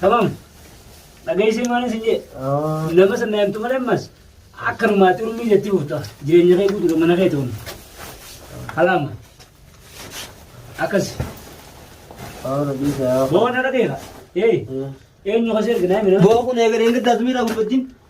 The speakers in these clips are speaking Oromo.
Tamam. Dhageessee maal isin jee? Nama sana yaamtu malee ammas akkanumaa xurmii jetti buuta. Jireenya kee guutuu mana kee ta'uun. Kalaama. Akkas. Boona dhageera. Ee. Eenyu kasi erga naa mina. Boo kun eegalee giddaas miidhaa gurbattiin.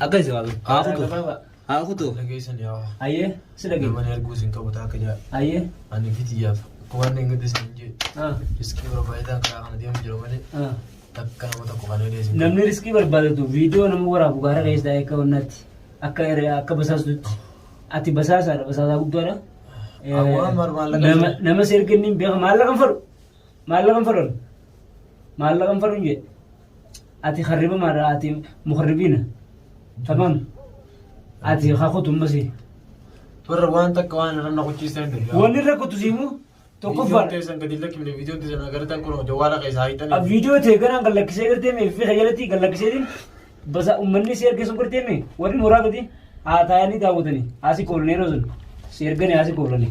Akka isa waaqni. Haa Aadaa kutu. gabaabaa. Haa kutu. Dhageessan yaa waa. Ayyee si dhageenya. Namani arguu sin qabu taaka jaa. Ayyee. Ani fitiyaaf. Waan hin gaddi sin jee. Ah, Riskii barbaachisaa karaa kana deemu jira malee. ah. Akka nama tokko kana illee sin Namni riskii barbaadatu viidiyoo nama waraabu gaara keessaa akka wannaatti akka irree akka basaastutti ati basaasaadha basaasaa guddaadha. Eh, Awwaan maal- maallaqa nama- jira? Nama si erga inni hin beeku maallaqa hin fudhu. Maallaqan fadhon. Maallaqan fadhon jedhe. Ati harriba maadha ati muharribiina. Tamam. Ati hakutu masi. Warra waan takka waan irra na qochiistan hin jiru. Wanni irra kutu siimu tokkoffaa. Viidiyoon teessan gadi lakkifne viidiyoon teessan agartan kun jawaala keessa haayitanii. A viidiyoo ta'e kanaan kan lakkisee gartee mee fi jalatti kan lakkiseetiin basa uummanni si erge sun gartee mee warri mooraa gadi haa taa'anii daawwatanii haasi koolanii yeroo sun si erganii haasi koolanii.